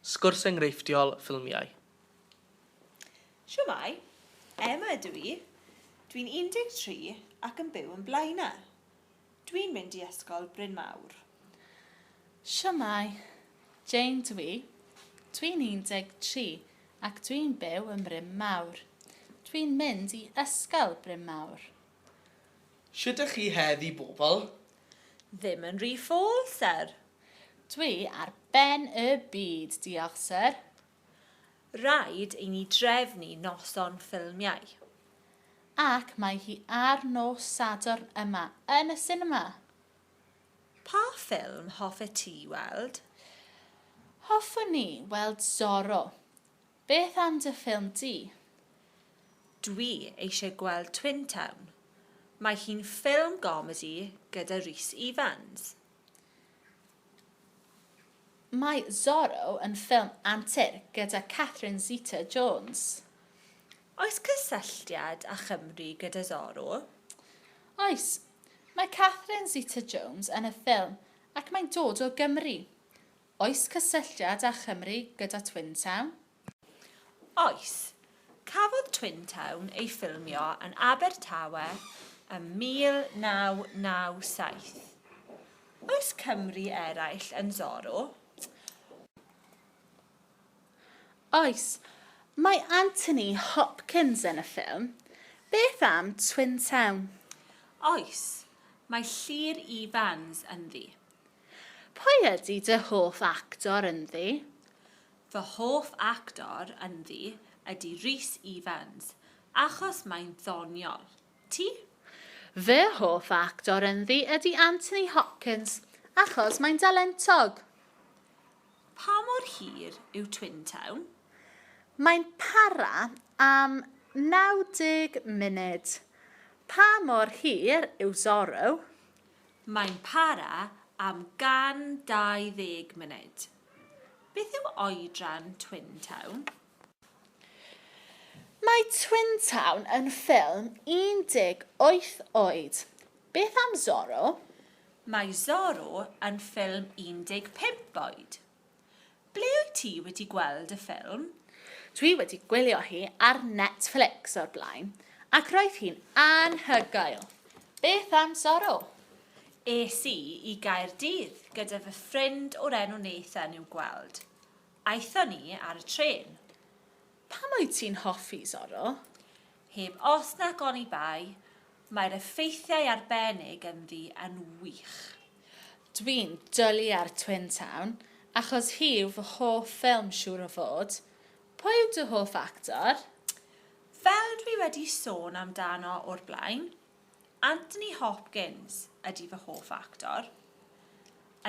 Sgwrs enghreifftiol ffilmiau. Shwmae, Emma ydw i. Dwi'n 13 ac yn byw yn Blaena. Dwi'n mynd i Ysgol Bryn Mawr. Shwmae, Jane dw i. Dwi'n 13 ac dwi'n byw yn Bryn Mawr. Dwi'n mynd i Ysgol Bryn Mawr. Shwt ydych chi heddi bobl? Ddim yn rhy ffôl, syr. Dwi ar ben y byd, diolch syr. Rhaid i ni drefnu noson ffilmiau. Ac mae hi ar nos Sadwrn yma yn y sinema. Pa ffilm hoffet ti weld? Hoffwn ni weld Zorro. Beth am dy ffilm di? Dwi eisiau gweld Twin Town. Mae hi'n ffilm gomedi gyda Rhys Ifans. Mae Zorro yn ffilm antur gyda Catherine Zeta-Jones. Oes cysylltiad â Chymru gyda Zorro? Oes. Mae Catherine Zeta-Jones yn y ffilm ac mae'n dod o Gymru. Oes cysylltiad â Chymru gyda Twin Town? Oes. Cafodd Twin Town ei ffilmio yn Abertawe ym 1997. Oes Cymry eraill yn Zorro? Oes. Mae Anthony Hopkins yn y ffilm. Beth am Twin Town? Oes. Mae Llŷr Evans ynddi. Pwy ydy dy hoff actor ynddi? Fy hoff actor ynddi ydy Rhys Ifans, achos mae'n ddoniol. Ti? Fy hoff actor ynddi ydy Anthony Hopkins, achos mae'n dalentog. Pa mor hir yw Twin Town? Mae'n para am 90 munud. Pa mor hir yw Zorro? Mae'n para am 120 munud. Beth yw oedran Twin Town? Mae Twin Town yn ffilm 18 oed. Beth am Zorro? Mae Zorro yn ffilm 15 oed. Ble wyt ti wedi gweld y ffilm? Dwi wedi gwylio hi ar Netflix o'r blaen, ac roedd hi'n anhygoel! Beth am Zorro? Es i i Gaerdydd gyda fy ffrind o'r enw Nathan i'w gweld. Aethon ni ar y trên. Pam wyt ti'n hoffi Zorro? Heb os nac oni bai, mae'r effeithiau arbennig ynddi yn wych. Dwi'n dwli ar Twin Town achos hi yw fy hoff ffilm siŵr o fod. Pwy yw dy hoff actor? Fel dwi wedi sôn amdano o'r blaen, Anthony Hopkins ydi fy hoff actor.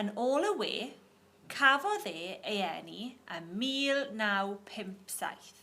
Yn ôl y we, cafodd e ei eni ym 1957.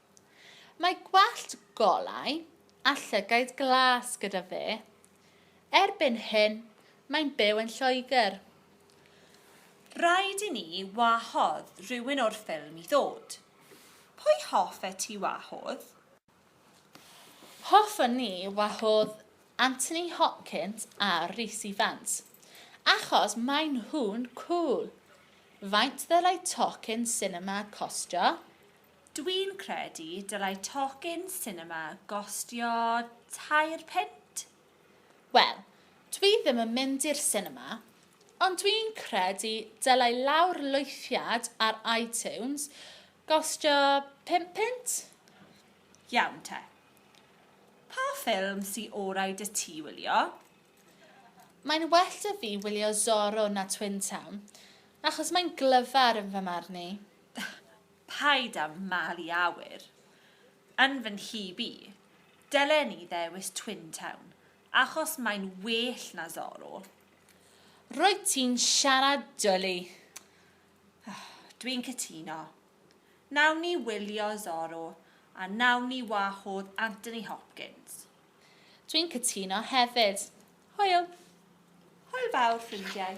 Mae gwallt golau a llygaid glas gyda fe. Erbyn hyn, mae'n byw yn Lloegr. Rhaid i ni wahodd rhywun o'r ffilm i ddod. Pwy hoffet ti wahodd? Hoffwn ni wahodd Anthony Hopkins a Rhys Ifans, achos maen nhw'n cŵl. Faint ddylai tocyn sinema costio? Dwi'n credu dylai tocyn sinema gostio tair punt? Wel, dwi ddim yn mynd i'r sinema, ond dwi'n credu dylai lawrlwythiad ar iTunes gostio pump punt? Iawn te. Pa ffilm sy orau 'da ti wylio? Mae'n well 'da fi wylio Zorro na Twin Town, achos mae'n glyfar yn fy marn i. Paid â malu awyr. Yn fy nhyb i, dylen i ddewis Twin Town, achos mae'n well na Zorro. Rwyt ti'n siarad dwli. Dwi'n cytuno. Nawn ni wylio Zorro a nawn ni wahodd Anthony Hopkins. Dwi'n cytuno hefyd. Hwyl. Hwyl fawr, ffrindiau.